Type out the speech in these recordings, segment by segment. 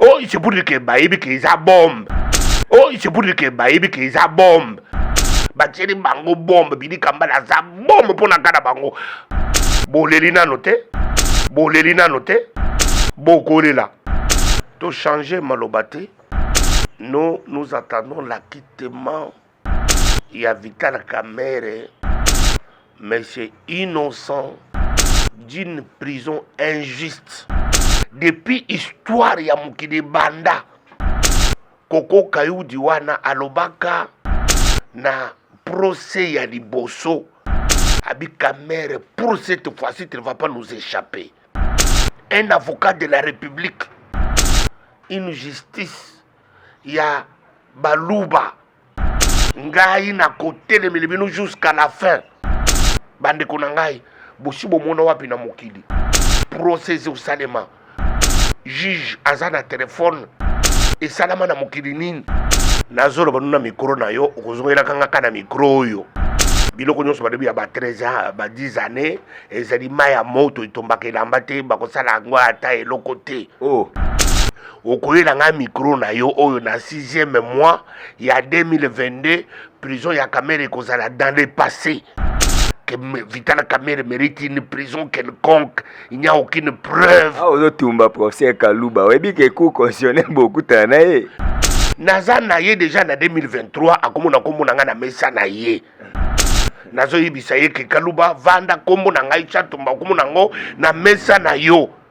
Oh, c'est pour dire que bayebi que eza bombe. Oh, c'est pour dire que bayebi que eza bombe. Batieli bango bombe, bidi kambala aza bombe mpo na kata bango. Boleli nano te, boleli nano te, bokolela. Tochanger maloba te. Nous, nous attendons l'acquittement ya Vital Kamerhe, mais c'est innocent d'une prison injuste. Depuis histoire ya mokili banda, Koko Kayudi wana alobaka na procès ya liboso Abi Kamerhe, pour cette fois-ci, tu ne vas pas nous échapper. Un avocat de la République, une justice ya baluba ngai nakotelemele bino jusqu'à la fin bandeko na ngai bosi bomona wapi na mokili procès osalema juge aza na telefone esalama na mokili nini nazoloba nuna mikro na yo okozongelaka nga ka na mikro oyo biloko nyonso balobi ya ba 13 ans ba 10 années ezali mai ya moto etombaka elamba te bakosala yango ata eloko te oh. okoyela ngai mikro na yo oyo na 6e mois ya 2022 prison ya kamere ekozala dans le passé que Vital Kamerhe mérite une prison quelconque. Il n'y a aucune preuve. Ah, ozotumba procès Kaluba. Webi ke cour constitutionnel bokutana na ye. Naza na ye déjà na 2023 akomona kombo na ngai na mesa na ye. Nazoyebisa ye ke Kaluba vanda kombo na ngai Tshatumba okomona yango na mesa na yo.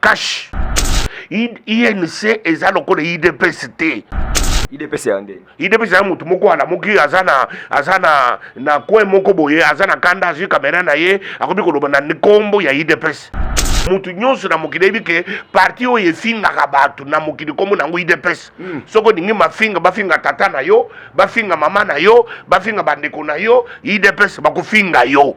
Cash. INC eza lokola IDPS te. IDPS ya nde. IDPS ya mutu moko ala moki aza na aza na na coin moko boye aza na kanda azui kamera na ye akomi koloba na nkombo ya IDPS. moto nyonso na mokili ayebi ke parti oyo efingaka bato na mokili nkombo nango idps mm. soki olingi mafinga bafinga tata na yo bafinga mama na yo bafinga bandeko na yo idps bakofinga yo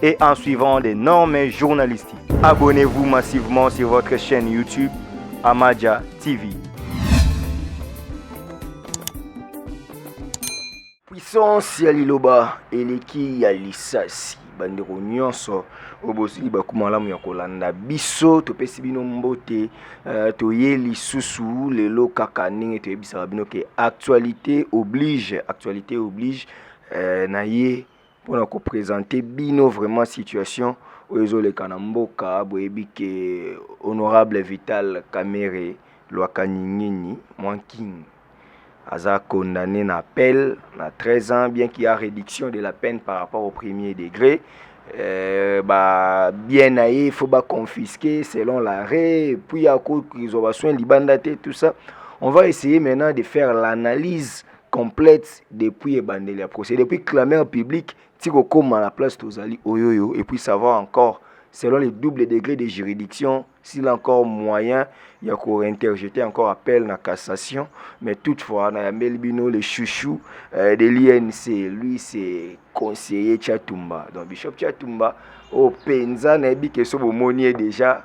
et en suivant les normes journalistiques. Abonnez-vous massivement sur votre chaîne YouTube Amaja TV. Puissance ya liloba eleki ya lisasi bandeko nyonso oyo bozwi libaku malamu ya kolanda biso topesi bino mbote uh, toye lisusu lelo kaka ndenge toyebisaka bino ke actualité oblige actualité oblige uh, na ye mpo na kopresente bino vraiment situation oyo ezoleka na mboka boyebi ke honorable vital kamere lwakanyingini mwanking aza condamné na appel na 13 ans bien qu'il y a réduction de la peine par rapport au premier degré euh, ba bien na ye faut ba confisquer selon l'arrêt puis akoki kozwa basoin libanda te tout ça on va essayer maintenant de faire l'analyse complète depuis ebandeli ya procès depuis clameur publique ti kokoma na place tozali oyoyo et puis savoir encore selon les doubles degrés de juridiction s'il a encore moyen ya ko interjeter encore appel na cassation mais toutefois na yambeli bino le chouchou euh, de l'INC lui c'est conseiller Chatumba donc bishop Chatumba oyo oh, mpenza nayebi ke so bomoni ye déjà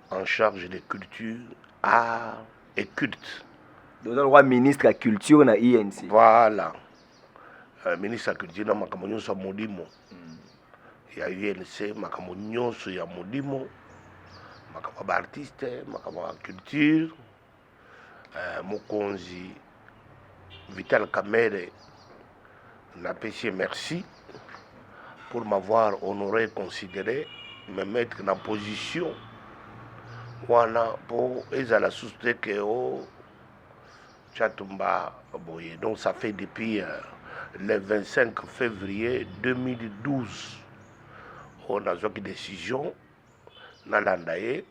en charge de culture, art et culte. Donc, le roi ministre la culture na INC. Voilà. Euh, ministre la culture na makambo nyonso ya molimo hmm. ya UNC, makambo nyonso ya molimo, makambo ya baartiste, makambo ya culture. Eh, mokonzi Vital Kamere na pesi merci pour m'avoir honoré considéré me mettre na position wana mpo ezala susu te ke o oh, chatumba boye donc ça fait depuis euh, le 25 février 2012 oyo nazwaki décision nalanda ye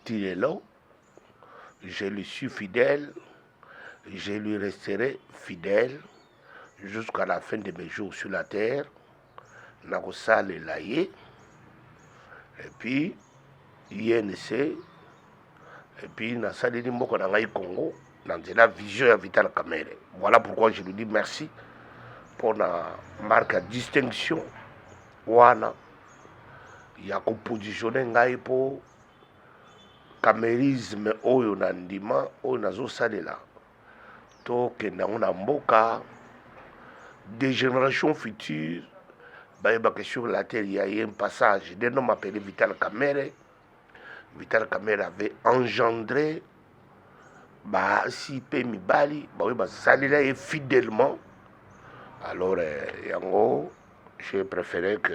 ti lelo Je lui suis fidèle, je lui resterai fidèle jusqu'à la fin de mes jours sur la terre. nakosalela ye epuis inc epuis nasaleli mboka na ngai congo na nzela vision ya vital kamere voilà pourquoi je lui dis merci mpo na marque ya distinction wana ya kopositionne ngai mpo kamerisme oyo na ndima oyo nazosalela tokenda yango na mboka de génération future bayebaka sur la terre ya ye passage de nom appelé vital kamere vital kamere avait engendré basi mpe mibali baoyo basalela ye fidèlement alors eh, yango J'ai préféré que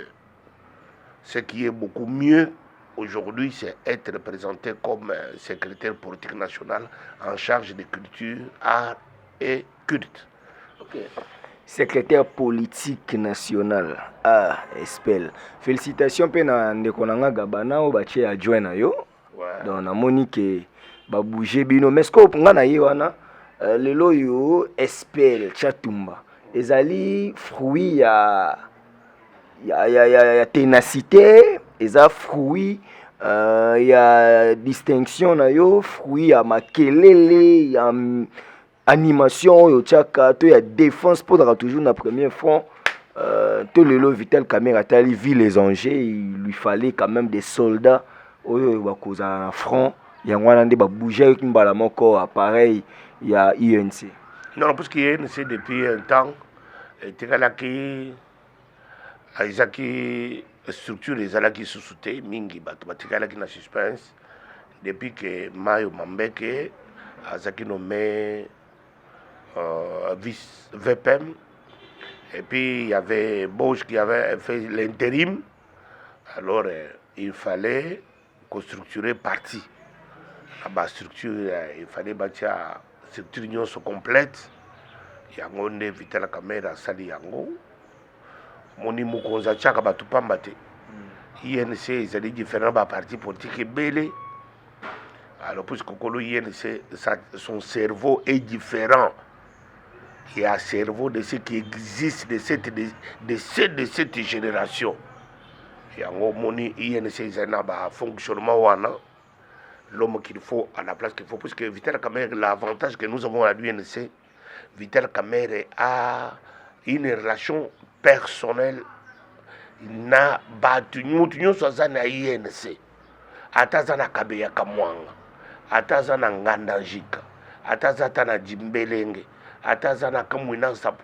ce qui est beaucoup mieux aujourd'hui, c'est être présenté comme euh, secrétaire politique national en charge de culture, art et culte. Okay. Secrétaire politique national, ah, espèle. Félicitations mpe na ndeko na nga Gabana oyo batie adjoint na yo. ouais. donc namoni ke babouge bino mais sikoyo nga na ye wana euh, lelo oyo spl chatumba ezali fruit ya ya, ya, ya, ya tenacité eza fruit euh, ya distinction na yo fruit ya makelele ya animation oyo otiaka to ya défense mpo ozalaka toujours na premier front euh, to lelo vital camera atali vie les angers il lui fallait quand même des soldats oyo bakozala na front yango wana nde babougeaki mbala moko appareil ya unc non parce que unc depuis un temps etekalaki ezaki structure ezalaki lisusu te mingi bato batikalaki na suspense depuis ke mayo mambeke azalaki nomme euh, vice vpm et puis il y avait Bosch qui avait fait l'intérim alors euh, il fallait ko structurer parti na ba structure eh, il fallait batia structure nyonso complète yango nde vital kamere asali yango moni mokonzi atiaka bato pamba te inc ezali différent ba parti politique ebele alors puisque kokolo inc son cerveau est différent ya cerveau de ce qui existe de cette, de, de, de cette génération yango omoni inc ezali na bafonctionnement wana l'homme qu'il faut à la place qu'il faut puisque vital kamere l'avantage que nous avons à l'unc vital kamere a une relation personnelle na bato moto nyonso aza na inc ata aza na kabeya kamwanga ata aza na nganda njika ata aza ata na jimbelenge ata aza na kamwina nsapu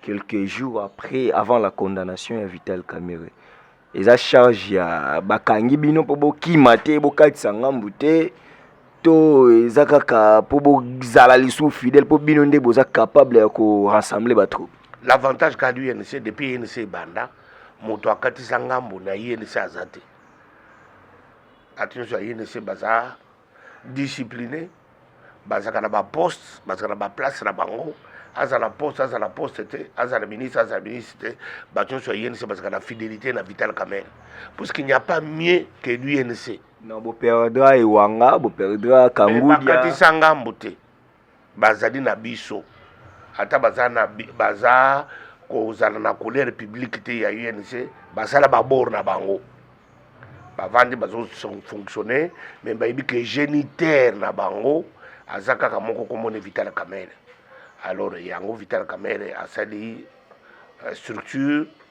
quelques jours après avant la condamnation ya vital camere eza charge ya bakangi bino mpo bokima te bokatisa ngambu te to eza kaka mpo bozala lisusu fidèle mpo bino nde boza capable ya korassembler batroupe l'avantage kaka du inc depuis inc ebanda moto akatisa ngambu na inc aza te bato nyonso ya inc baza discipline bazalaka na baposte bazalaka na baplace na bango azala poste azala poste te azala ministre azala ministre te bato nyonso ya unc bazalaka na fidélité na vital kamel parce qu'il n'y a pas mieux que l'unc non boperdra ewanga boperdra kangudia bakatisa ngambo te bazali na biso ata baza na baza kozala na couleur publique te ya UNC basala babor na bango bavandi bazofonctionne me bayebi ke géniteur na bango aza kaka moko komona vital kamere alors yango vital kamere asali euh, structure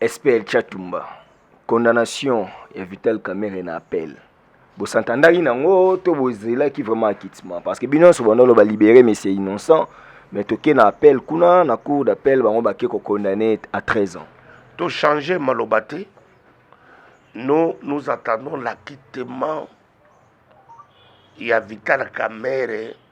SPL Chatumba, condamnation ya Vital Kamerhe na appel. Bosantandaki nango to bozelaki vraiment acquittement parce que bino nyonso bandolo ba libérer mais c'est innocent mais toke na appel kuna na cour d'appel bango bake ko condamner à 13 ans. To changer maloba te. Nous nous attendons l'acquittement ya Vital Kamerhe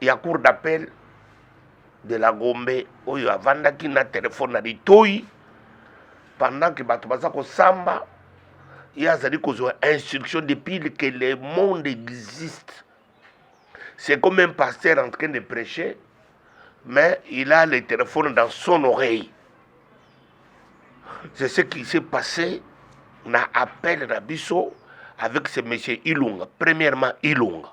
ya cour d'appel de la Gombe oyo avandaki na telefone na litoi pendant que bato baza kosamba ye azali kozwa instruction depuis que le monde existe c'est comme un pasteur en train de prêcher mais il a le téléphone dans son oreille c'est ce qui s'est passé na appel na biso avec ce monsieur ilunga premièrement ilunga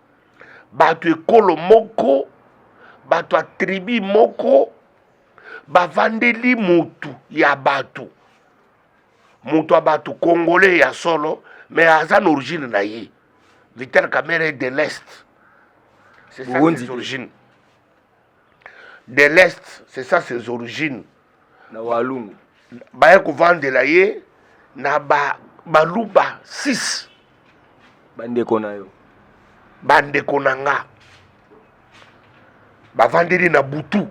bato ekolo moko bato ya tribi moko bavandeli motu ya bato moto ya bato congolais ya solo mais aza na origine na ye vital kamere de l'est c'est ça ses origines de l'est c'est ça ses origines na walungu baya kovandela ye na ba baluba 6 bandeko na yo bandeko na nga bavandeli na butu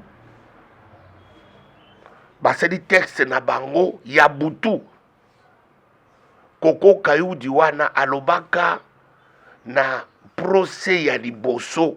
basali texte na bango ya butu koko kayudi wana alobaka na procès ya liboso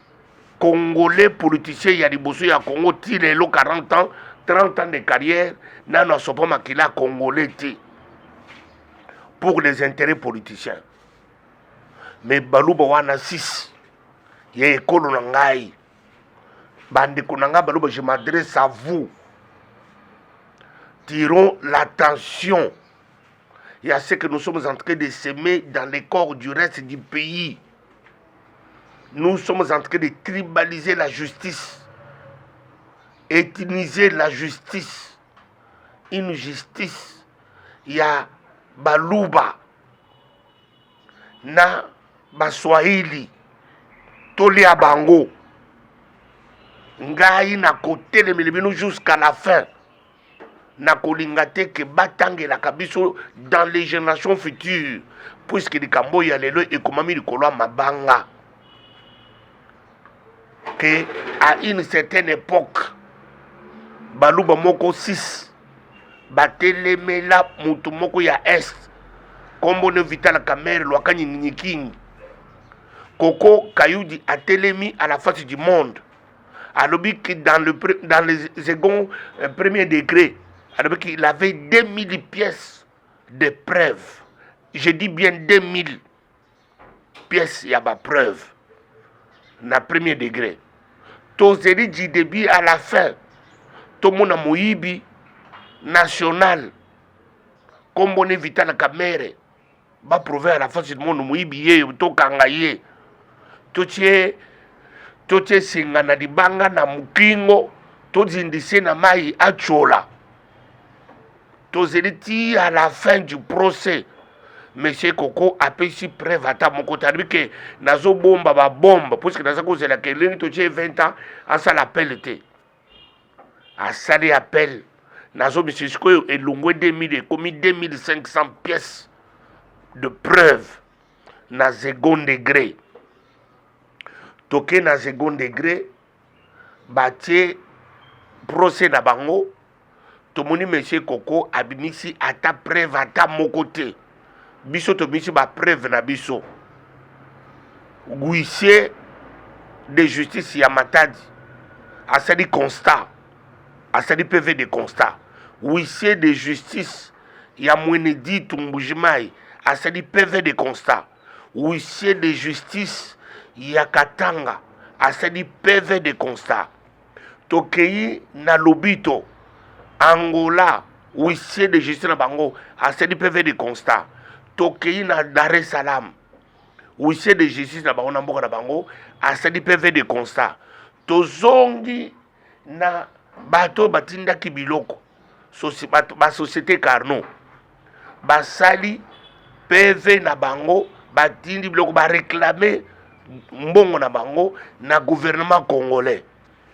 congolais politicien ya liboso ya congo ti lelo 40 ans 30 ans de carrière nano asopa makila congolais te pour les intérêts politiciens me baluba wana 6 ya ekolo na ngai bandeko na ngai baluba je m'adresse à vous tirons l'attention ya ce que nous sommes en train de semer dans les corps du reste du pays Nous sommes en train de tribaliser la justice, ethniser la justice, une justice ya baluba na baswahili tolia bango ngai nakotelemeli bino jusqu'à la fin nakolinga te ke batangelaka biso dans les générations futures puiske likambo oyo ya lelo ekomami likolo ya mabanga ke à une certaine époque baluba moko 6 batelemela moto moko ya est nkombo ne vital kamere lwaka nyinginyikingi koko kayudi atelemi à la face du monde alobi que dans le dans le second euh, premier degré alobi qu'il avait 2000 pièces de preuves je dis bien 2000 pièces ya ba preuve na premier degré tozeli du début à la fin tomona moyibi national kombone vitala kamere ba prouve à la face du monde moyibi ye tokanga ye totie totie singa na libanga na mokingo tozindise na mai atyola tozeli ti à la fin du procès monsieur koko apesi preuve ata moko te alobi ke nazobomba babombe puiske naza kozela ke elingi totie 20 ans asala pele te asali appel nazobisi sikoyo elongwe 2000 ekomi 2500 pièces de preuve na second degré toke na second degré batie procès na bango tomoni monsieur koko abimisi ata preuve ata moko te biso tobimisi bapreuve na biso huissier de justice ya matadi asali constat asali pv de constat huissier de justice ya mwene ditu mbujimai asali pv de constat huissier de justice ya katanga asali pv de constat tokei na lobito angola huissier de justice na bango asali pv de constat tokei na dar es salaam huissier de justice na bango na mboka na bango asali pv de constat tozongi na bato oyo batindaki biloko basociété carno basali pv na bango batindi biloko bareklame mbongo na bango na gouvernement congolais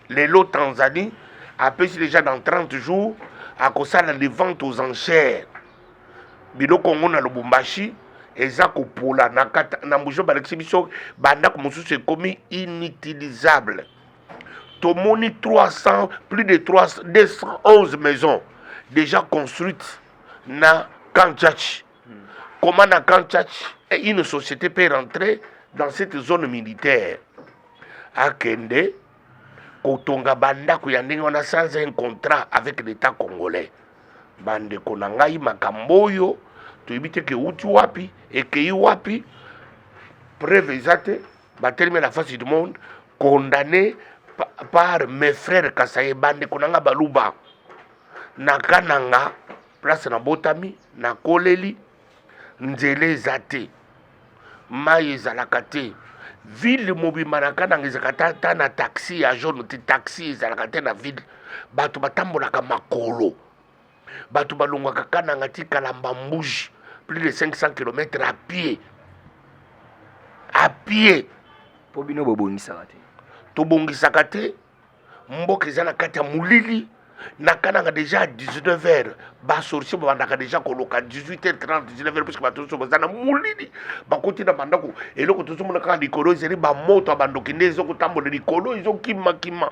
lelo tanzanie apesi déjà dans 30 jours akosala les ventes aux enchères biloko yango na lubumbashi eza kopola na mbujo balakisi biso bandako mosusu ekomi inutilisable tomoni 300 plus de 300, 211 maisons déjà construites na Kanchachi. Hmm. Comment na Kanchachi une société peut rentrer dans cette zone militaire akende kotonga bandako ya ndenge wana sans un contrat avec l'état congolais bandeko na ngai makambo oyo toyebi te keuti wapi ekei wapi preuve eza te batelemi na face du monde condamné par mes frères kasaye bandeko na nga baluba na kananga place nabotami nakoleli nzela eza te mai ezalaka te ville mobimba na kananga ezalaka ata na taxi ya jaune te taxi ezalaka te na ville bato batambolaka makolo bato balongwaka kananga ti kalamba mbuji plus de 500 km à pied à pied mpo bino bobongisaka te tobongisaka te mboka eza na kati ya molili na kananga deja à 19 heures basorcier babandaka deja koloka 18 heures 30 19 heures puisque bato nyonso baza na molili bakoti na bandako eloko tozomona kaka likolo ezali bamoto ya bandoki nde ezokotambola likolo ezokimakima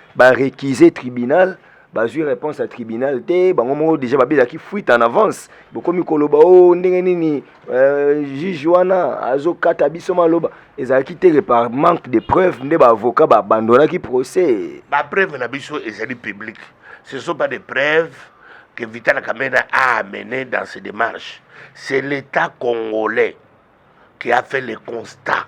ba récuser tribunal bazwi réponse ya tribunal te bango moko déjà babelaki fuite en avance bokomi koloba o oh, ndenge nini euh, juge wana azokata biso maloba ezalaki te par manque de preuve nde baavocat baabandonaki procès bapreuve na biso ezali publique ce sont pas des preuves que vital kamena a amené dans ses démarches c'est l'état congolais qui a fait le constat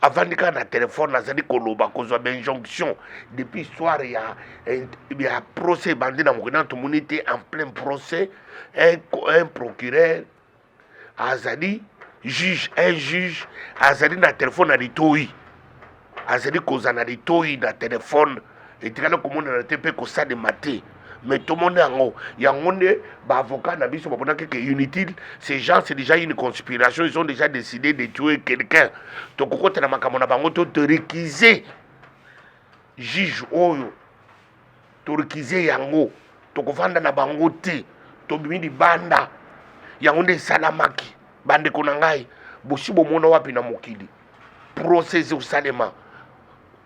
avandi kaka na telefone azali koloba kozwa bainjonction depuis histoire ya, ya procès ebandi na mokili nano tomoni te en plein procès un, un procureur azali juge un juge azali na telefone na litoi azali kozala na litoi na telefone etikali komonana te mpe kosalema te mais tomoni yango yango nde baavocat na biso baponaki ke unity ces gens c'est déjà une conspiration ils ont déjà décidé de tuer quelqu'un tokokotela makambo na bango toterekise juge oyo Turkiser yango tokovanda na bango te, tobimi libanda. Yango nde esalamaki, bandeko na ngai. Bosi bomona wapi na mokili procès ezosalema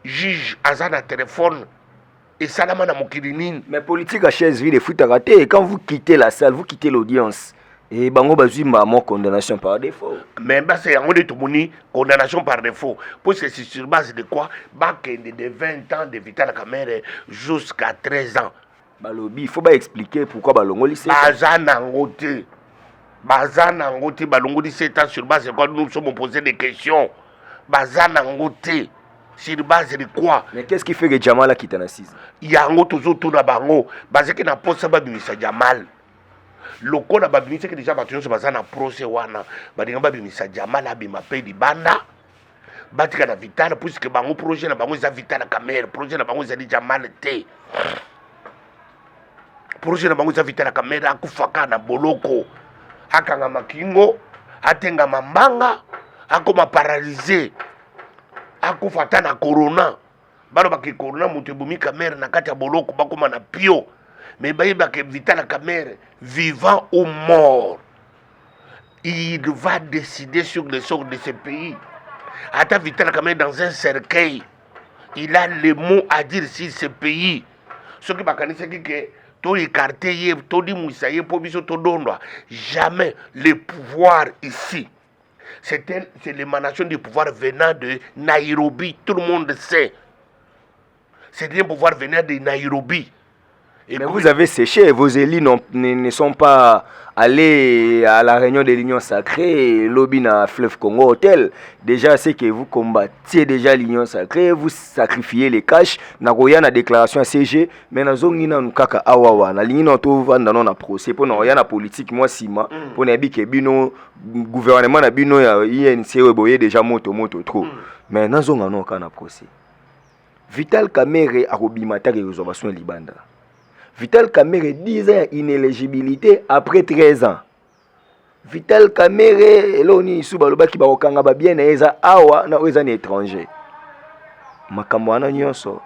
juge aza na telefone esalama na mokili nini mais politique ya chaise vide efutaka te quand vous quittez la salle vous quittez l'audience e bango bazwi mbamo condamnation par défaut mais basa yango nde tomoni condamnation par défaut mpo ceci sur base de quoi bakende de 20 ans de vitala kamere jusqu'à 13 ans balobi faut baexplike pourquoi balongoli se baza nango te baza nango te balongoli 7 ans sur base de quoi nous sommes posé des questions baza nango te sur base de quoi mais qu'est ce qui fait que jamal akita na 6 yango tozotuna bango bazaki na mposa babimisa jamal lokola babimisaki deja bato nyonso baza na prose wana balinga babimisa jamal abima mpe libanda batika na vital puiske bango projet na bango eza vital camere projet na bango ezali jamal te projet na bango eza vital camere akufaka na boloko akangama kingo atengama mbanga akoma paralyse akufa ata na corona balobaka ke corona moto ebomi kamere na kati ya boloko bakoma na pio me bayebaka vitala kamere vivant ou mort il va décider sur le sort de ce pays ata vitala kamere dans un cercueil il a le mot à dire sur ce pays soki bakanisaki ke toekarte ye todimwisa ye mpo biso todondwa jamais le pouvoir ici C'est l'émanation du pouvoir venant de Nairobi. Tout le monde sait. C'est un pouvoir venant de Nairobi. Et Mais vous avez séché, vos élus ne sont pas allés à la réunion de l'Union sacrée, lobby na Fleuve Congo Hôtel. Déjà, c'est que vous combattiez déjà l'Union sacrée, vous sacrifiez les cash. Nagoya na déclaration à CG, mais na zongi na nukaka awawa. Na lingi na to vanda na procès, pour na na politique, moi sima, mm. pour na bike bino gouvernement na bino ya inc oyo boye deja moto moto trop mm. mais nazonga no kaka na procès vital kamere akobima atake kozwa basoin libanda vital kamere 10 ans ya inéligibilité après 13 ans vital kamere eloo nini isu balobaki bakokanga babie na ye eza awa na oyo eza na étranger makambo wana nyonso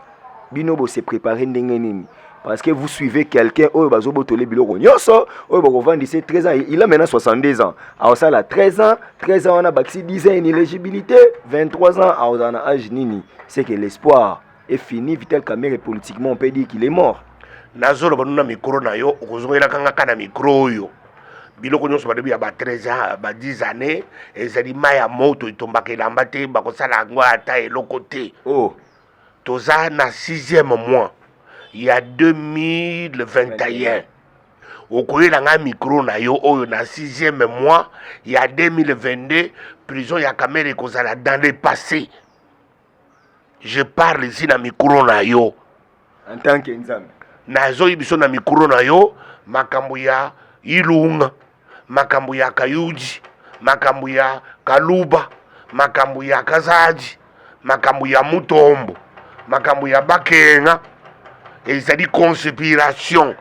bino bo se préparer ndenge nini parce que vous suivez quelqu'un oyo bazo botole biloko nyonso oyo bakovandisa 13 ans il a maintenant 62 ans aosala 13 ans 13 ans wana bakisi 10 ans inéligibilité 23 ans aozala na age nini c'est que l'espoir est fini vital camere politiquement on peut dire qu'il est mort nazoloba nuna mikro na yo okozongelaka nga ka na mikro oyo biloko nyonso balobi ya ba 13 ans ba 10 années ezali mai ya moto etombaka elamba te bakosala yango ata eloko te oh. toza na sixième mois ya 2021 okoyela ngai mikro na yo oyo na sixième mois ya 2022 prison ya kamere ekozala dans le passé je parle ici na mikro na yo en tant que nzambe nazoyi biso na mikro na yo makambo ya ilunga makambo ya kayudi makambo ya kaluba makambo ya kazadi makambo ya mutombo makambo ya bakena ezali conspiration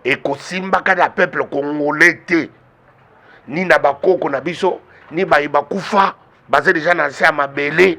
ekosimbaka na peuple congolais te ni na bakoko na biso ni baye bakufa baza deja na nse ya mabele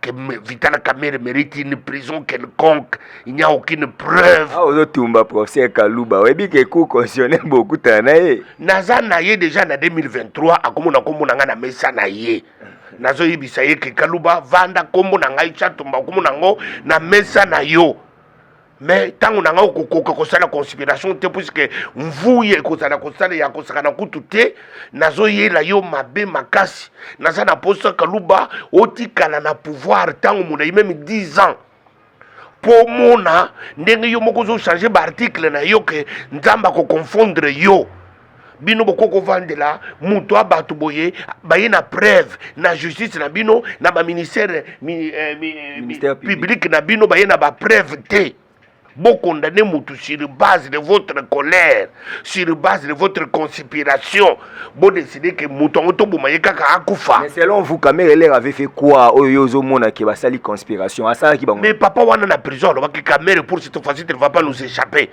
que Vital Kamere mérite une prison quelconque. Il n'y a aucune preuve. Ah, ozotumba professeur Kaluba. Oyebi que cour constitutionnel bokutana na ye. Naza na ye déjà na 2023 akomona kombo na ngai na mesa na ye. nazoyebisa ye ke kaluba vanda nkombo na ngai chatumba okomona yango na mesa na yo mais ntango na ngai okokoka kosala conspiration te puiske mvuya ekozala kosala ya kosakana kutu te nazoyela yo mabe makasi naza na mposa kaluba otikala na pouvoir ntango molai meme 10 ans mpo omona ndenge yo moko ozochange baartikle na yo ke nzambe akoconfondre yo bino bokoki kovandela moto ya bato boye baye na preuve na justice na bino na baministère eh, eh, publique na bino baye na bapreuve te bokondane motu sur base de votre colère sur base de votre conspiration bodeside ke moto yango toboma ye kaka akufa mais selon vous kamere elere avait fait quoi oyo yo ozomona ke basali conspiration asalaki bango mais papa wana na prison alobaki kamere pour cette fois-ci ne va pas nous échapper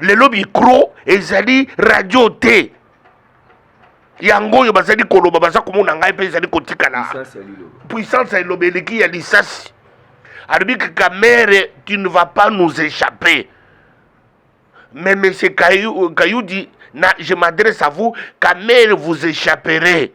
lelo micro ezali radio te yango oyo bazali koloba baza komona ngai mpe ezali kotikala puissance ya liloba eleki ya lisasi alobi kaka mere tu ne vas pas nous échapper mais monsieur kayudi na je m'adresse à vous kamere vous échapperez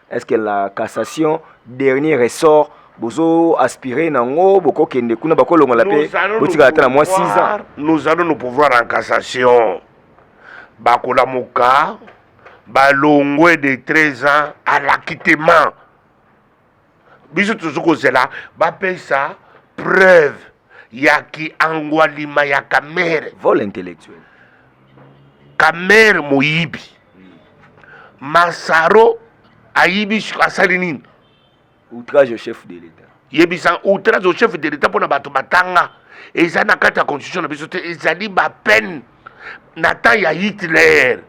est-ce que la cassation dernier ressort bozo aspirer nango boko kende kuna bako longola pe botika ata na moi 6 ans nous allons nous pouvoir en cassation bakola moka balongwe de 13 ans à l'acquittement biso tozo kozela bapesa preuve ya kiangwalima ya kamere vol intellectuel kamere moyibi Masaro ayibi asali nini? Outrage au chef de l'État. Yebisa outrage au chef de l'État pona bato batanga eza na kati ya constitution na biso te, ezali ba peine na temps ya Hitler.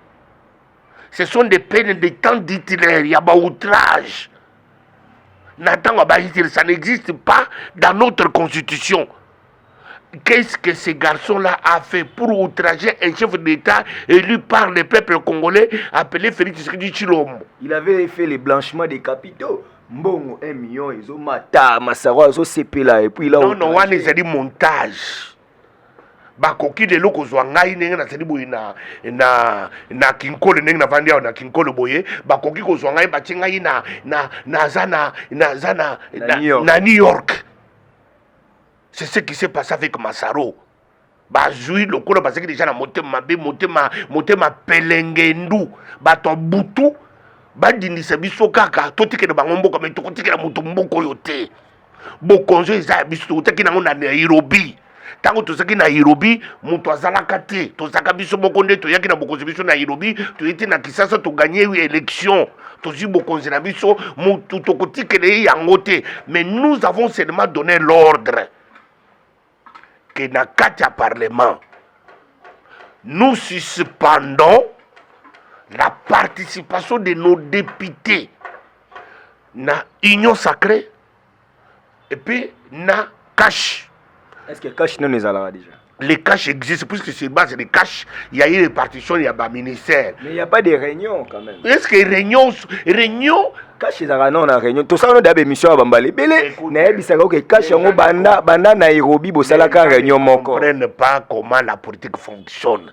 Ce sont des peines de temps d'Hitler ya ba outrage na ntango ya ba Hitler, ça n'existe pas dans notre constitution. Qu'est-ce que ce garçon-là a fait pour outrager un chef d'État élu par le peuple congolais appelé Félix Tshisekedi Chilombo Il avait fait le blanchiment des capitaux. Mbongo 1 million ezo mata masaro azo sepela et puis là Non non wana ezali montage. bakoki lelo kozwa ngai ndenge nazali boye na, na, na kinkole ndenge navandi awa na kinkole boye bakoki kozwa ngai batie ngai na, na, naza na, naza na, na, na, na new york c'est ce qui s'est passé avec masaro bazwi lokola bazalaki deja na motema mabe motema motema pelengendu bato ya butu badindisa biso kaka totikela bango mboka me tokotikela moto mboka oyo te bokonzi eza ya biso tokotaki nango na nairobi ntango tozalaki na nairobi moto azalaka te tozalaka biso moko nde toyaki na bokonzi biso na nairobi toyei te na kisasa toganye election tozwi bokonzi na biso motu tokotikela ye yango te mais nous avons seulement donné l'ordre que na kati ya parlement nous suspendons la participation de nos députés na union sacrée et puis na cash est ce que cash nano ezalaka déjà les cash existent puisque sur base des cash il y a une répartition il y a ba ministère mais il y a pas de réunion quand même est ce que réunion réunion cash ezalaka nao na réunion tosala no daba émission ya bambala ebele nayebisaka oke cash yango banda banda nairobi bosalaka réunion moko comprenne pas comment la politique fonctionne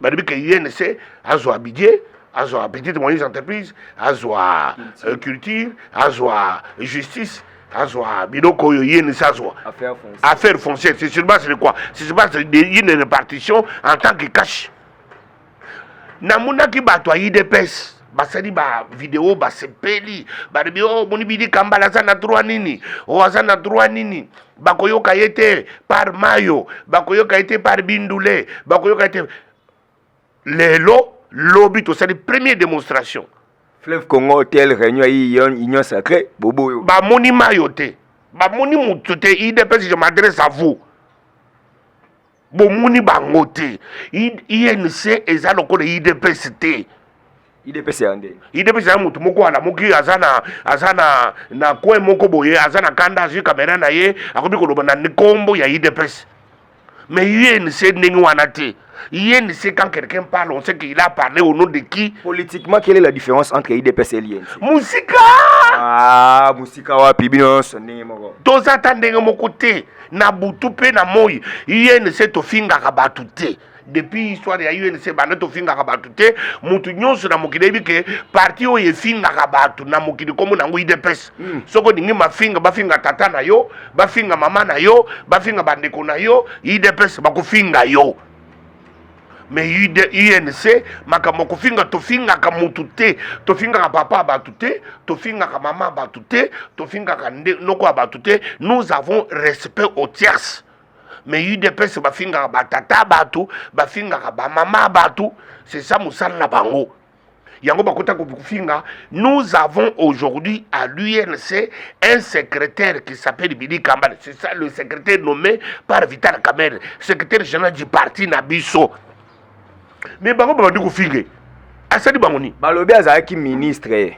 balobi ke unc azwa budget azwa petite moyenne entreprise azwa euh, culture azwa justice azwa biloko oyo ye nisi azwa affaire foncière c'est sur base de quoi c'est sur base d'une répartition en tant que cash namonaki bato ya idps basali ba video basepeli balobi o oh, moni bidi kambala aza na droit nini o oh, aza na droit nini bakoyoka ye te par mayo bakoyoka ye te par bindule bakoyoka ye te lelo lobi tosali premier démonstration fleuve congo hotel réunion ya union sacré boboyo bamoni mayo te bamoni moto te idps je m'adresse à vous bomoni bango te inc eza lokola idps te idps ya nde idps ya motu moko alamuki aza na aza na na coin moko boye aza na kanda azwi kamera na ye akomi koloba na nkombo ya idps mais inc ndenge wana te INC, quand quelqu'un parle, on sait qu'il a parlé au nom de qui Politiquement, quelle est la différence entre IDPS et l'INC Musika Ah, Musika wapi bino sonne moko. Toza tandenge moko te. na butu mpe na moi unc tofingaka bato te depuis histoire ya unc banda tofingaka bato te moto nyonso na mokili ayebi ke parti oyo efingaka bato na mokili nkombo na yango idps mm. soki olingi mafinga bafinga tata na yo bafinga mama na yo bafinga bandeko na yo idps bakofinga yo me unc makambo kofinga tofingaka mutu te tofingaka papa ya bato te tofingaka mama ya bato te tofingaka nde noko ya bato te nous avons respect au tierce me udps bafingaka batata ya bato bafingaka bamama ya bato c'est ça mosala na bango yango bakota kofinga nous avons aujourd'hui à l'UNC un secrétaire qui s'appelle Billy Kambale c'est ça le secrétaire nommé par Vital Kamerhe secrétaire général du parti na biso mais bango babandi kofinge asali bango nini balobi azalaki ministre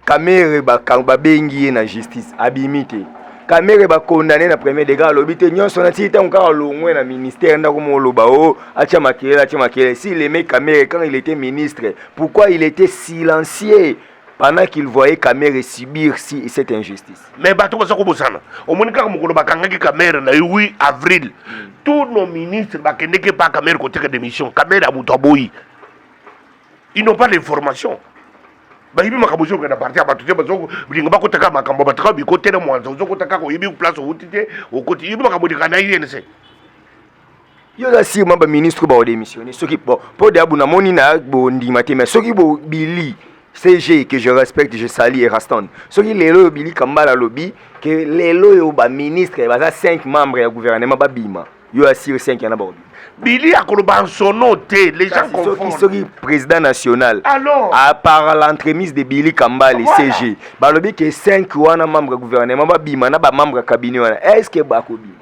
kamere babengi ye na justice abimi te kamere bakondane na premier degré alobi te nyonso na tii ntango kaka longwe na ministère ndako moloba o oh, atya makelele atya makelele si leme kamere quand il était ministre pourquoi il était silencieux pendant qu'il voyait Kamere subir si, cette injustice. Mais bato baza kobosana omoni kaka mokolo bakangaki Kamere na 8 avril tous nos ministres bakendeki epa Kamere koteka démission Kamere abutu aboyi ils n'ont pas d'information bayibi makambo ozoyoka na parti ya bato te bazolinga bakotaka makambo bato kaka bikote na mwanza ozokota kaka oyebi place owuti te okoti yebi makambo olingaka na inc yo oza sire ma baministre baodemissione soki po mpo deabu namoni na bondima te mais soki bobili CG que je respecte, je salue et rastonne. Ce qui est là, Billy Kambala Lobby, que les lois au bas ministre, il y a 5 membres du gouvernement, Babima. Bah, yo ya siri 5 yana bakobi bili akoloba nsono te les gens confondent soki président national alors à par l'entremise de bili kambali voilà. cg balobi ke 5 wana membre ya gouvernement babima na bamembre ya cabinet wana est ce que bakobima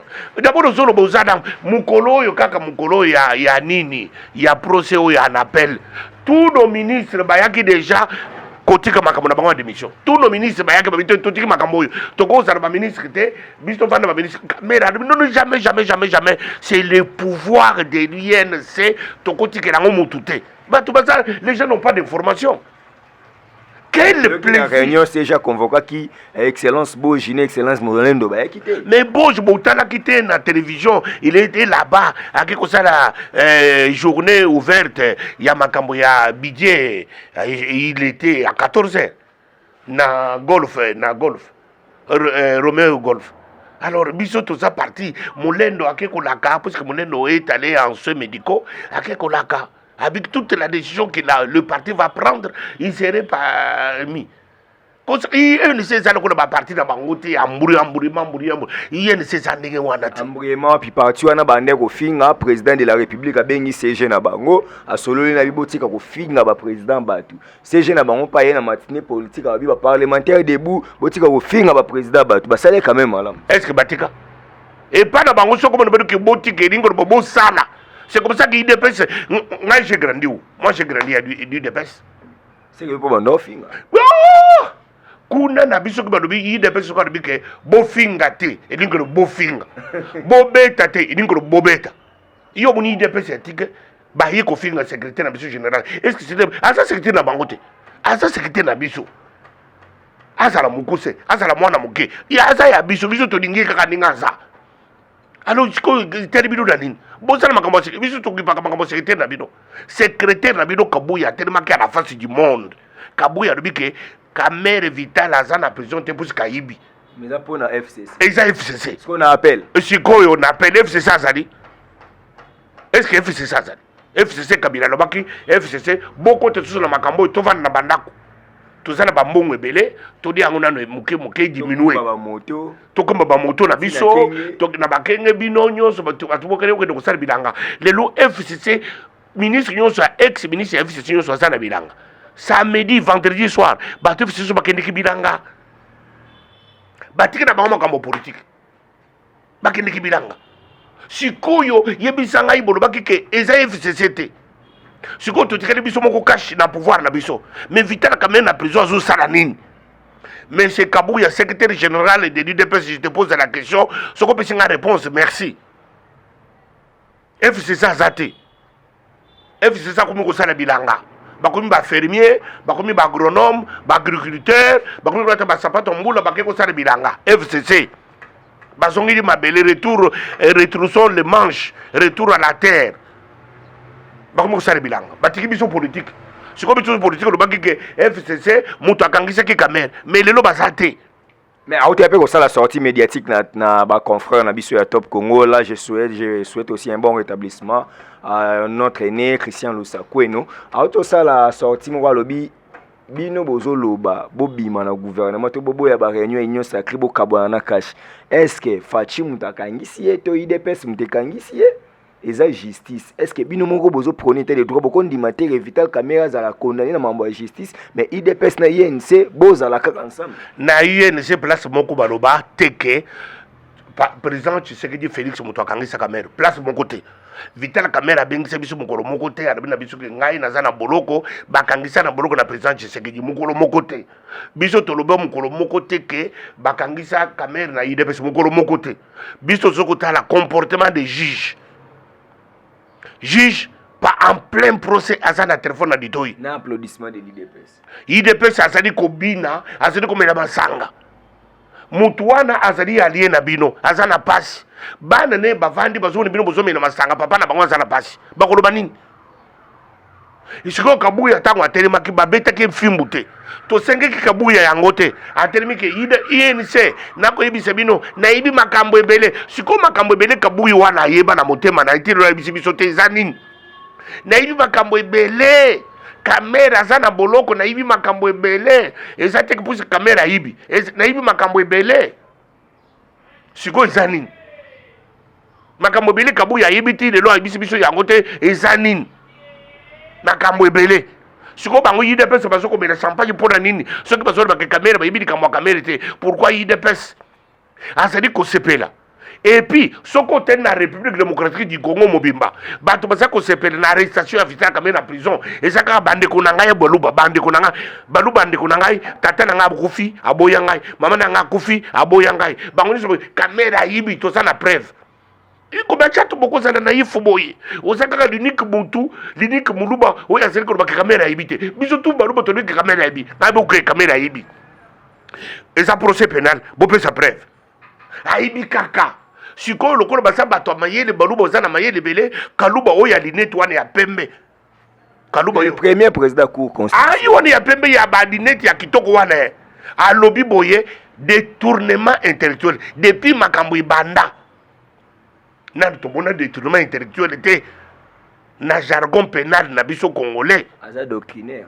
dabord ozoloba oza na mokolo oyo kaka mokolo oyo ya, ya nini ya procès oyo ya napel tous nos ministres bayaki déjà kotika makambo na bango ya démission tous nos ministres bayaki babi totiki makambo oyo tokozala baministre te biso tovanda baminisi kamera alobi nono jamais jamais jamais jamais c'est le pouvoir de l'inc tokotikela yango motu te bato baza les gens n'ont pas d'information quel plaisir réunion c'est déjà convoquaki eh, excellence Bojine excellence Molendo ba yaki te mais Boj botalaki te na télévision il était là-bas ake ko sala euh, journée ouverte ya makambo ya budget eh, il était à 14h na golf eh, na golf eh, romeo golf alors biso toza parti molendo ake kolaka puisque molendo est allé en soins médicaux ake kolaka avec toute la décision que la, le parti va prendre il serait parmi inc eza lokola baparti na bango te amburi amburi mamburi amburi inc eza ndenge wana te ambruyema wapi parti wana bande kofinga président de la république abengi cg na bango asololi na bibotika kofinga baprésident bato CG na bango pa ye na matinée politique babi ba parlementaire debout botika kofinga ba président bato basali quand même malamu est ce que batika epai na bango soko bana badoki botika elingo lobo bosala c'est comme ça que idps ngai j'ai grandi où moi j'ai grandi ya udps seke mpo banda ofinga kuna na biso ki balobi idps soko alobi ke bofinga te elingi lobo bofinga bobeta te elingi lobo bobeta yo omoni idps ya tike baye kofinga secrétaire na biso général est ce que aza secrétaire na bango te aza secrétaire na biso azala mokuse azala mwana moke aza ya biso biso tolingi ye kaka ndenge aza alors sikoyo etali bino na nini bosala makambo ya biso tokipaka makambo ya secrétaire na bino secrétaire na bino kabuya atelemaki ya na face du monde kabuya alobi ke kamere vital aza na prison te mposi kayibi Mais là pour la FCC. Et ça FCC. Ce qu'on appelle. Et ce qu'on appelle FCC azali. Est-ce que FCC azali? FCC Kabila lobaki FCC boko te tous na makambo to vanda na bandako. toza na bambongo ebele todi yango nano e moke moke diminue tokoma bamoto na biso na bakenge bino nyonso bato bokende kokende kosala bilanga lelo fcc ministre nyonso ya ex ministre ya fcc nyonso aza na bilanga samedi vendredi soir bato fcc bakendeki bilanga batiki na bango makambo politike bakendeki bilanga sikoyo yebisa ngai bolobaki ke eza fcc te sikoyo totikali biso moko kashe na pouvoir na biso mais vital kamene na prison azosala nini monsieur kabuya secrétaire général de l'udps je te pose la question soki opesi ngai réponse merci fcc aza te fcc akomi kosala bilanga bakomi bafermier bakomi baagronome baagriculteur bakomi kolata basapato mbula bake kosala bilanga fcc bazongeli mabele retour eh, retroussons le manche retour à la terre bakomi kosala bilanga batiki biso politique sikoyo biso politique olobaki ke fcc moto akangisaki kamere mais lelo baza te Mais aote pe kosala sortie médiatique na, na ba confrères na biso ya Top Congo là je souhaite je souhaite aussi un bon rétablissement à notre aîné Christian Lusakweno aote osala sortie moko alobi bino bozoloba bobima na gouvernement to boboya ba réunion ya union sacrée bokabwana na cash est ce que Fachi moto akangisi ye to idps moto ekangisi ye eza justice est ce que bino moko bozo prone te le droit bokondima te ke vital camera azala condamné na mambo ya justice mais idps na inc bozala kaka ensemble na inc place moko baloba te ke président tshisekedi félix moto akangisaka maire place moko te vital kamere abengisa biso mokolo moko te alobi na biso ke ngai naza na boloko bakangisa na boloko na président tshisekedi mokolo moko te biso toloba mokolo moko te ke bakangisa kamere na idps mokolo moko te biso tozo kotala comportement de juge juge pa en plein procès aza na telefone na litoi na applaudissement de l'idps idps azali kobina azali komela masanga motu wana azali alie na bino aza na pasi bana ne bavandi bazomona bino bozomela masanga papa na bango aza na pasi bakoloba nini sikoyo kabuya ntango atelemaki babetaki mfimbu te tosengeki kabuya yango te atelemi ke inc nakoyebisa bino nayebi makambo ebele sikoyo makambo ebele kabuyi wana ayeba na motema na ye te lelo ayebisi biso te eza nini nayebi makambo ebele kamera aza na boloko nayebi makambo ebele eza te kipusi kamera ayibi nayebi makambo ebele sikoyo eza nini makambo ebele kabuya ayebi ti lelo ayebisi biso yango te eza nini makambo ebele sikoyo bango udps bazo komela champagne mpo na nini soki bazolobaka kamere bayebi likambo ya kamere te pourkui udps azali kosepela epuis soki otali na république démocratique du congo mobimba bato baza kosepela na arrestation ya vital kamere na prison eza kaka bandeko na ngai ya baluba bandeko na ngai baluba ndeko na ngai tata na ngai akufi aboya ngai mama na ngai akufi aboya ngai bango nyonso kamera ayibi toza na preuve ikoba chato bokozala na ifu boye oza kaka linike butu linike moluba oyo azali koloba ke kamera ayibi te biso tu baluba tolobi ke kamera ayibi ngai boke kamera ayibi eza procès penal bopesa preuve ayibi kaka sikoyo lokola baza bato ya mayele baluba oza na mayele ebele kaluba oyo ya linete wana ya pembe kaluba yo premier président cour constitutionnelle ayi wana ya pembe ya ba lunette ya kitoko wana eh. alobi boye détournement intellectuel depuis makambo ebanda nani tomona détournement intellectuel te na jargon pénal na biso congolais aza doctrinaire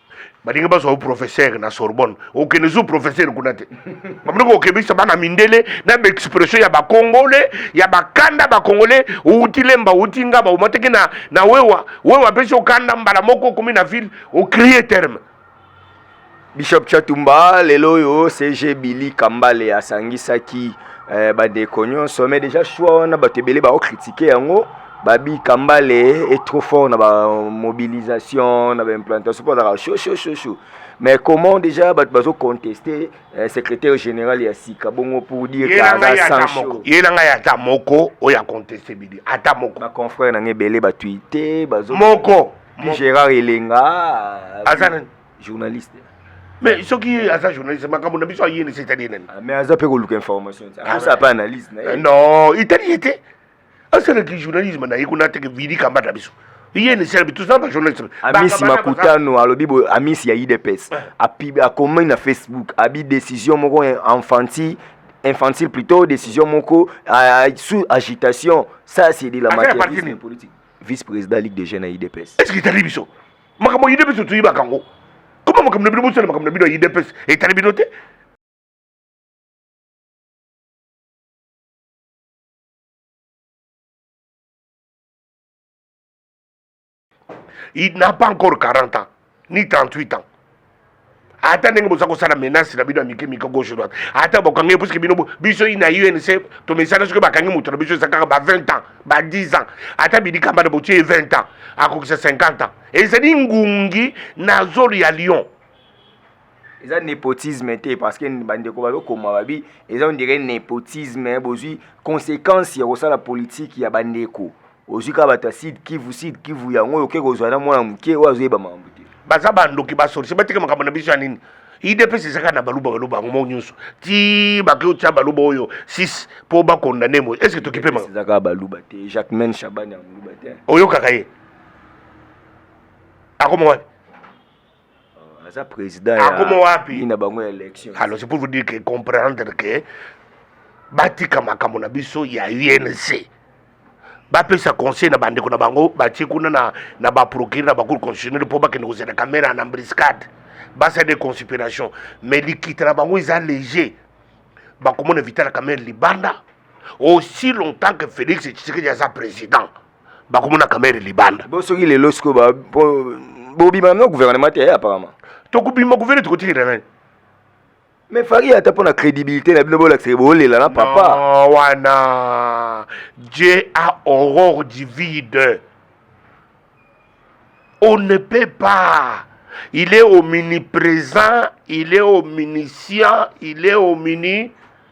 balingi bazwa professeur na sorbonne okende zu professeur kuna te bamiloko okebisa bana mindele na baexpression ya bakongole ya bakanda bakongole outi lemba outi ngaba omataki na, na wewa wewa apesi okanda mbala moko okomi na ville ocrie terme bishop chatumba lelo oyo cg billy kambale asangisaki eh, bandeko nyonso mais déjà choix wana bato ebele baokritike yango Babi Kambale est trop fort na ba mobilisation na ba implantation po azalaka chaud chaud chaud chaud mais comment déjà bato bazo contester eh, secrétaire général ya sika bongo pour dire que aza sans chaud ye na ngai ata moko oyo aconteste bidi ata moko ba confrère na ngai ebele batuite bazo moko Gérard Elenga aza nani journaliste mais soki ye aza journaliste makambo na biso ayini se etali ye nani mais aza mpe koluka information aza mpe analyse na ye non etali ye te asalaki journalisme na ye kuna ateke vidi kamba na biso iye na esala bitu zamba journalisme amisi makutano alobi boye amisi ya idps eh. akomi na facebook abi décision moko enfanti infantile plutôt décision moko sous agitation ça c'est de la matière politique vice président ligue de jeunes ya idps est ce que etali biso makambo ya idps toyibaka yango koma makambo na bino bosala makambo na bino ya idps etali bino te il n'a pas encore 40 ans ni 38 ans ata ndenge boza kosala menace na bino ya mike mike gauche droite ata bokangi ye puiske bino biso ina unc tomesana soki bakangi moto na biso eza kaka ba 20 ans ba 10 ans ata bidikamba na botie ye 20 ans akokisa 50 ans ezali ngungi na zolo ya lion eza nepotisme te parce que bandeko bazokoma babi eza ondire nepotisme bozwi conséquence ya kosala politike ya bandeko ozwi kaka bato ya sud kivu sud kivu yango oyo oke kozwa na mwana moke oyo azoyeba makambo te baza bandoki basolisi bateke makambo na biso ya nini idps ezaka na baluba baloba yango moko nyonso ti bake otya baluba oyo 6 mpo bakondane moye estce tokipe makambo ezaka baluba te jacques men chabani ya moluba te oyokaka ye akoma wapi aza président akoma wapi na bango ya élection alors c'est pour vous dire que comprendre que batika makambo na biso ya UNC bapesa conseil na bandeko na bango batie kuna na, na baprocure na bacour constitutionnel mpo bakende kozela kamera na mbriscade basala de conspiration mais likita na bango eza léger bakomona vitala kamere libanda aussi longtemps que félix tshisekedi aza président bakomona kamere libanda bo soki lelo sikoyo bobima na gouvernement te eh, apparemment tokobima gouvernement tokotikela nani mais fari ata mpo na crédibilité na bino bolakisaka bolela na papa no, wana dieu a horreur du vide on ne peut pas il est omniprésent il est omniscient il est omni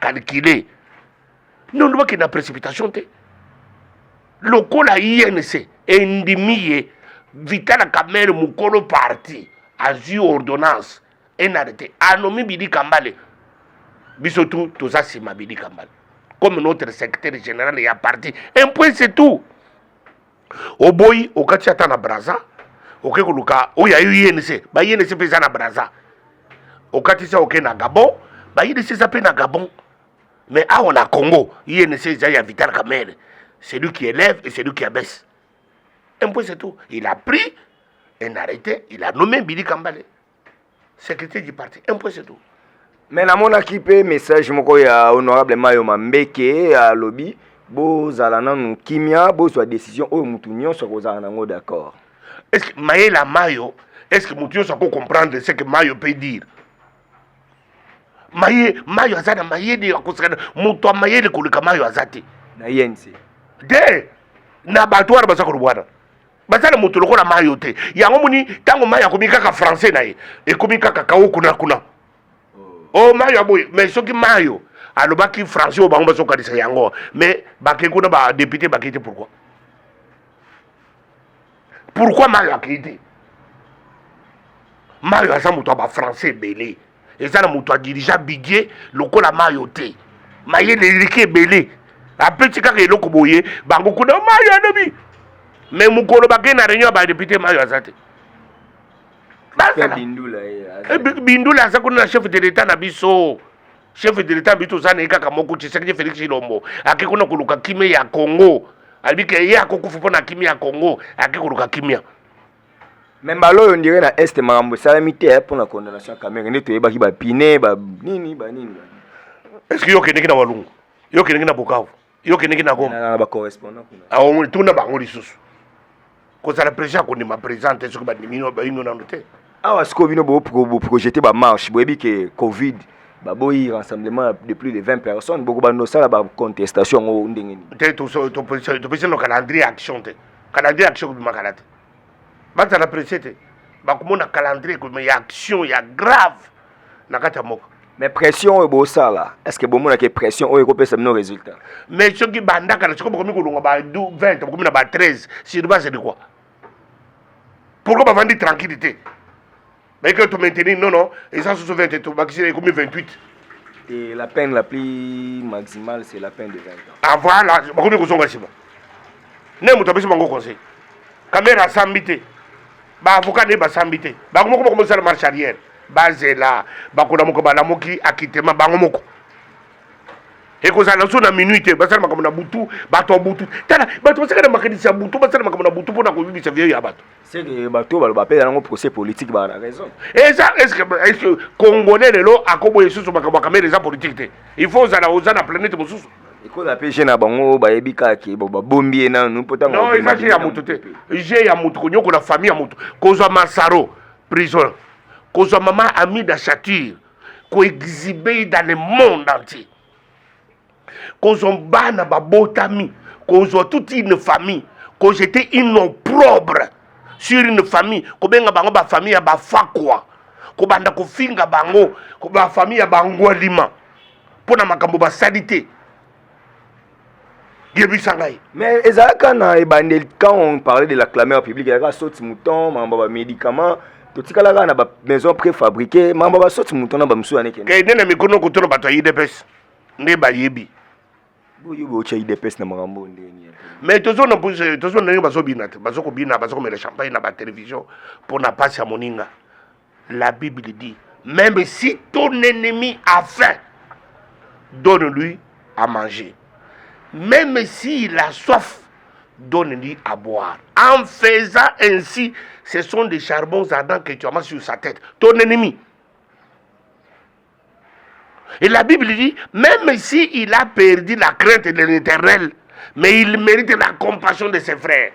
calculer nondo bakende na précipitation te lokola inc endimi ye vitala kamere mokolo parti azwi ordonnance enarete anomi bidi kambale biso tu toza nsima bidi kambale comme notre secrétaire général ya parti un point c'est tout oboyi okati ata na braza oke koluka oyo ayo inc ba inc mpe eza na braza okatisa oke na gabon ba inc eza mpe na gabon mais awa na congo inc eza ya vital kamere celui qui élève et celui qui abaisse un point c'est tout il a pris un arrêté il a nommé bili kambale sécurité du parti un point c'est tout me namonaki mpe message moko ya honorable mayo mambeke alobi bozala nanu kimia bozwa décision oyo motu nyonso akozala nango d'accord est ce que mayela mayo est ce que motu nyonso ako comprendre ce que mayo peut dire maye mayo aza na mayele akosekana moto ya mayele koleka mayo aza te na yense de na bato wana baza kolobwana baza na moto lokola mayo te yango moni ntango mayo akomi kaka français na ye ekomi kaka kao kuna kuna o oh. oh, mayo aboye mais soki mayo alobaki français oyo bango bazokanisa yango mais bakei kuna badepute bakei te pourkui pourkui mayo akei te mayo aza moto ya bafrançais ebele eza na moto adirija bidie lokola mayo te maye na eleki ebele apeti kaka eloko boye bango kuna mayo alobi me mokolo bakei na réunion ya badepute mayo aza te bindula eh, aza kuna na chef de l'état na biso chef de l'état na biso toza na ye kaka moko tshisekedi félix ilombo ake kuna koluka kimia ya congo alobi ke ye akokufa mpo na kimia ya congo ake koluka kimia Mais mbala oyo ndire na est makambo esalami te eh, mpo na condamnation ya Kamerhe nde toyebaki bapine ba nini ba nini ba nini. est ce que yo okendeki na walungu yo okendeki na bukavu yo okendeki na goma Na- na bacorrespondant kuna aomoni tuna bango lisusu kozala president akondima president te soki bandimino baino nano te awa sikoyo bino boprojete bamarche boyebi ke covid baboyi rassemblement ya de plus de 20 personnes bokobanda osala bacontestation yango ndenge nini te toso- topesi topesi no calendrier ya action te Calendrier action kobima kala te. Bazala presse te. Bakomona calendrier ekobima ya action ya grave na kati ya mboka. mais pression oyo bosala est ce que bomonaki pression oyo ekopesa bino résultat mais soki bandaka na siko bokomi kolonga ba 20 bokomi na ba 13 sur base de quoi pourquoi bavandi tranquille te Mais que tu maintenir, non, non. Et ça, sous 20, tu vas combien 28 Et la peine la plus maximale, c'est la peine de 20 ans. Ah voilà, je ne sais pas si c'est bon. Je ne sais pas si conseil. Kamera sambite. Ba avocat ne ba sambite. Ba komoko komoko sala marche arrière. Ba zela, ba kona moko ba lamoki akitema bango moko. ekozala so na minui te basala makambo na butu bato ya butu tala bato basekana makanisi ya butu basala makambo na butu mpo na koyibisa vieyo ya bato c'est que bato baloba mpe yango procès politique baa na raison eza eske congolais lelo akoboya lisusu makambo ya kamere eza politique te il faut ozala oza na planète mosusu ekola mpe je na bango bayebi kaka ke babombi ye nanu mpo ntango non eza je ya moto te je ya moto konyokola famille ya moto kozwa masaro prison kozwa mama amida chature koexibe dans le monde entier kozwa bana babotami kozwa toute une famille kojete une opprobre sur une famille kobenga bango bafamille ya bafakwa kobanda kofinga bango bafamille ya bangwalima mpo na makambo basali te yebisa ngai mais ezalaka na ebandeli quand on parlait de la clameur publique ezalaka soti mouton mambo ya bamédicament totikalaka na bamaison préfabriqué mambo ya basoti mouton na bamosusu yanekende kende na mikono kotuna bato ya idps nde bayebi boyebi otya idps na makambo oyo ndenge nini mais tozona tozo ndenge bazobina te bazokobina bazokomela champagne na batelevision mpo na mpasi ya moninga la bible dit même si ton ennemi a faim donne lui à manger même s'il a soif donne-lui à boire. En faisant ainsi, ce sont des charbons ardents que tu amasses sur sa tête, ton ennemi. Et la Bible dit, même si il a perdu la crainte de l'éternel, mais il mérite la compassion de ses frères.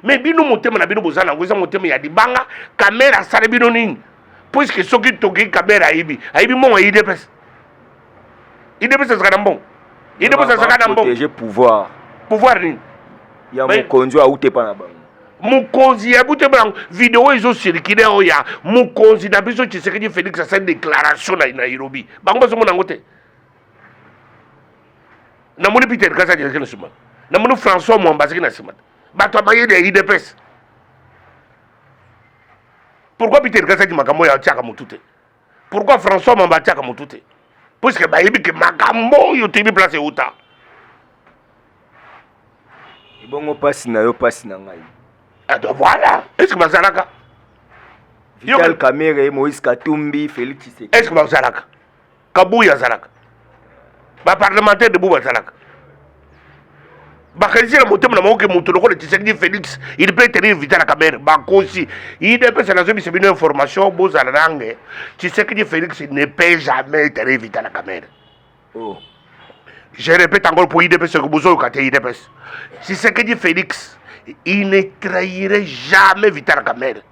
Mais bino motema na bino boza nango eza motema ya libanga kamera asala bino nini puiske soki toki kamera ayibi ayibi mbongo ya idps idps azalaka na mbongo idps azalaka na mbongo pouvoir pouvoir nini ya mokonzi autepa na bango mokonzi ya bute bango video ezo circule oyo ya mokonzi na biso tshisekedi félix asali déclaration na nairobi bango bazomona yango te namoni peter kasi ajelaki na nsima namoni françois mwamba azaki na nsima bato ya mayele ya idps pourquoi peter kasi aji makambo oyo atiaka motu te Pourquoi François Mamba atiaka motu te? Puisque bayebi ke makambo oyo toyebi place euta. Ebongo pasi na yo pasi na ngai. Ah, donc voilà. Est-ce que bazalaka? Vital Kamerhe, Moïse Katumbi, Félix Tshisekedi. Est-ce que bazalaka? Kabuya azalaka? baparlementaire debout bazalaka bakanisi na motema na bango ke moto lokola tshisekedi félix il peut tenir vitala kamere bakosi idps nazobisa bino information bozala nange tshisekedi félix ne peut jamais tenir vitala kamere oh. je répète encore pour idps que bozoyoka te idps tshisekedi félix il ne trahirait jamais vitala kamere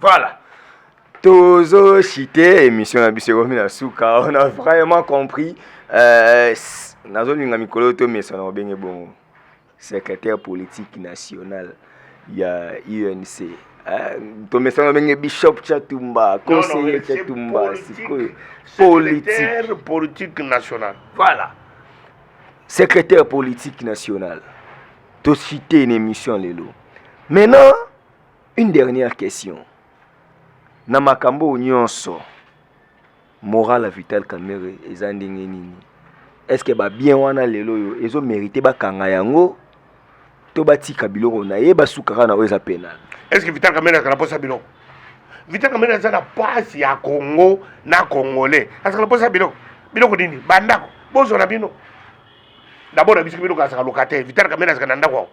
Voilà. Tozo chite émission na biso ekomi na suka. On a vraiment compris. Euh, nazolinga mikolo to mesana obenge bongo. Secrétaire politique national ya UNC. Eh, tomesana ndenge bishop chatumba conseiller chatumba sikoyo politique politique nationale voilà secrétaire politique nationale tocite une émission lelo maintenant Une dernière question. Na makambo nyonso moral ya Vital Kamerhe eza ndenge nini? Est-ce que ba bien wana lelo yo ezo mériter bakanga yango to batika biloko na ye basukaka na oyo eza penal? Est-ce que Vital Kamerhe azala posa biloko? Vital Kamerhe aza na pasi ya Congo na Congolais. Azala posa biloko. Biloko nini? Bandako. Bozwa na bino. D'abord na biso biloko azala locataire. Vital Kamerhe azala na ndako.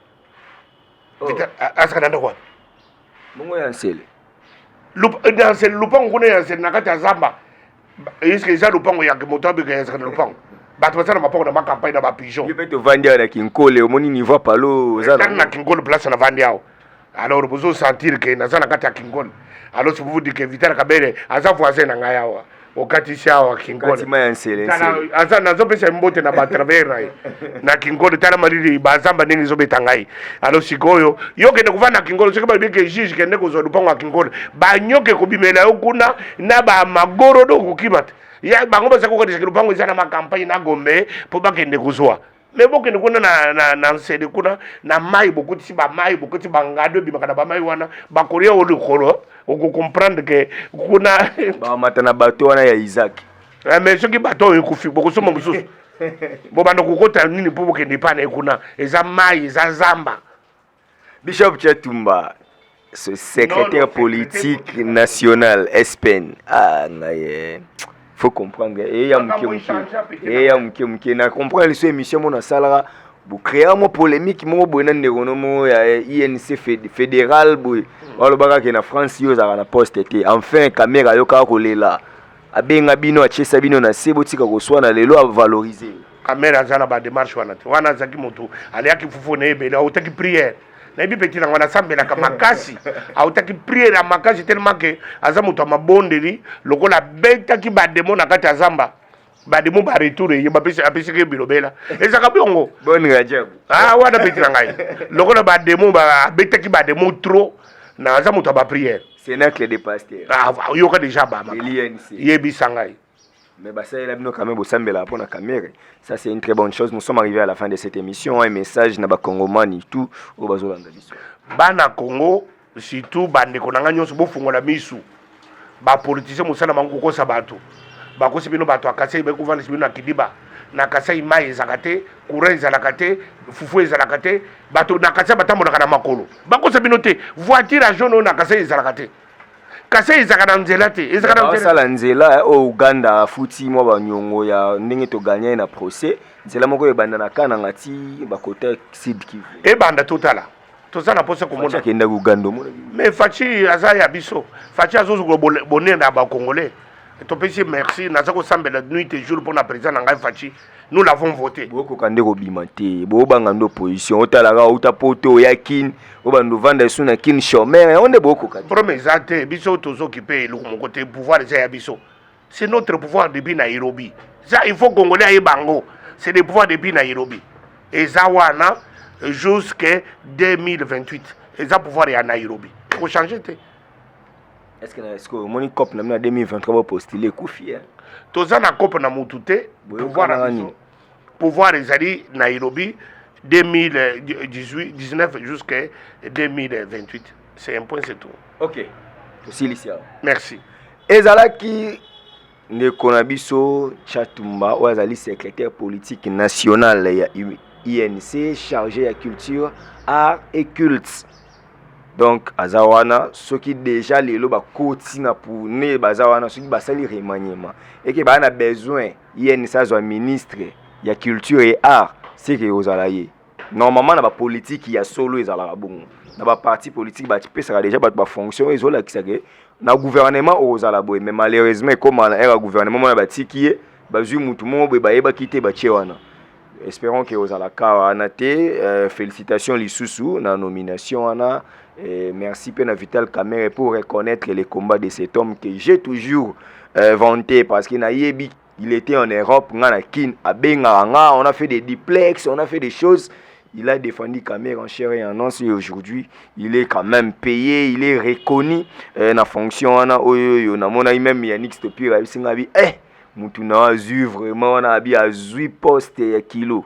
Oh. asaka na ndako wapi bongo ya nsele na nsele lupango kuna ya nsele na kati ya zamba eske eza lupango ya moto abeka ya nsaka na lupango bato basala mapango na bakampagne na bapigeon mpe tovandi awa na kinkole omoni niveau palo ozatanga na kinkole place na vandi awa alors bozo sentir ke naza na kati ya kinkole alors si vous vous dites que vital kabele aza voisin na ngai awa okatisi awa kinkoleaza nazopesa mbote na batravers na ye na kinkole tala malili bazamba ndenge ezobeta ngai alo sikoyo yo kende kovanda na kinkole soki balobi ke juge kende kozwa lupango ya kinkole banyoka ekobimela yo kuna na bamagorodo okokima te bango baza kokanisa ke lupango eza na makampagne na gombe mpo bakende kozwa me bokende kuna na, na, na nsede kuna na mai bokotisi bamai bokotisi bangado ebimaka na bamai wana bakolia o likolo okokomprendre ke kuna bamata na bato wana ya isaki eh, me soki bato oyo ekufi bokosomba mosusu bobanda kokota nini mpo bokende epai na ye kuna eza mai eza zamba Bishop Chatumba, ce secrétaire politique national SPN. Ah, naye. Faut comprendre. Et ya muke muke. Et ya muke muke. Na comprendre les émissions mon salara. Vous créez mon polémique mon boye na ndeko no mo ya eh, INC fédéral boye. Walo baka ke na France yo za na poste te. Enfin kamera yo ka ko lela. abenga bino atiesa bino na se botika koswana lelo avalorize amere aza na bademarche wana te wana azalaki motu aliaki fufu na ebele autaki priere nayebi peti nango nasambelaka makasi autaki priere ya makasi telema ke aza moto ya mabondeli lokola abetaki bademo na kati ya zamba bademo ba retour eye apesaki ye bilobela ezalaka biongo ah, wana peti na ngai lokola bademo abetaki bademo trop naza moto ya bapriere Cenacle de pasteur. Ah, oyoka deja bama. Yebisa ngai. Mais basalela bino quand même bosambela pona kamere. Ça c'est une très bonne chose. Nous sommes arrivés à la fin de cette émission. Un message na ba congomani tout au bazolanda biso. Bana Congo surtout bandeko na ngai nyonso bofungola misu bapolitisien mosala bango kokosa bato bakosi bino bato ya kasai bayi kovandisa bino na kidiba na kasai mai ezalaka te courant ezalaka te fufu ezalaka te bato na kasai batambolaka na makolo bakosa bino te voiture ya jaune oyo na kasai ezalaka te kasai ezalaka na nzela te ezalakasala nzela eh, oyo uganda afuti mwa banyongo ya ndenge toganya ye na procès nzela moko ebanda na kananga ti bakota sud kivu ebanda totala toza na mposa komona akendaki uganda omona mais faci aza ya biso faci azozwa bonene ya bacongolais topesi merci naza kosambela nuit et jour mpo na président na ngai faci nous l'avons voté bokoka nde kobima te bobanga nde opposition otalaka outa poto oya kin obanda ovanda esu na kin chomere yango nde bokoka te problème eza te biso tozokipe eloko moko te pouvoir eza ya biso c'est notre pouvoir depuis nairobi ça il faut congolais ayeba yango c'est le pouvoir depuis nairobi eza wana jusque 2028 eza pouvoir ya nairobi ekochange te Est-ce que na est-ce que omoni cop na bino ya 2023 bo postuler ekufi eh? toza na kopo na mutu te Boyokana pouvoir na nani? biso pouvoir ezali nairobi 2019 jusqu'à 2028 c'est un point c'est tout Ok, tosilisi awa. merci Ezalaki Ndeko na biso Chatumba oyo azali secrétaire politique national ya INC chargé ya culture, art et culte. Donc aza wana soki déjà lelo bakoti na pune baza wana soki basali remaniement eke baa na besoin INC azwa ministre ya culture et art seke ozala ye. normalement na bapolitiki ya solo ezalaka bongo na baparti politiki bapesaka deja bato bafonction oyo ezolakisa ke na gouvernement okozala boye mais malheureusement ekoma na ere ya gouvernement mona batiki ye bazwi motu moko boye bayebaki te batie wana espérons ke ozala ka wana te euh, félicitation lisusu na nomination wana Et merci Pena Vital Kamere pour reconnaître les combats de cet homme que j'ai toujours euh, vanté parce qu'il n'a il était en Europe nga na Kin abengaka nga on a fait des duplex on a fait des choses il a défendu Kamerhe en chair et en os et aujourd'hui il est quand même payé il est reconnu euh, na fonction wana oyo oyo namonaki même Yannick Stopir ayebisi nga bi eh mutu na azwi vraiment wana abi azwi poste ya kilo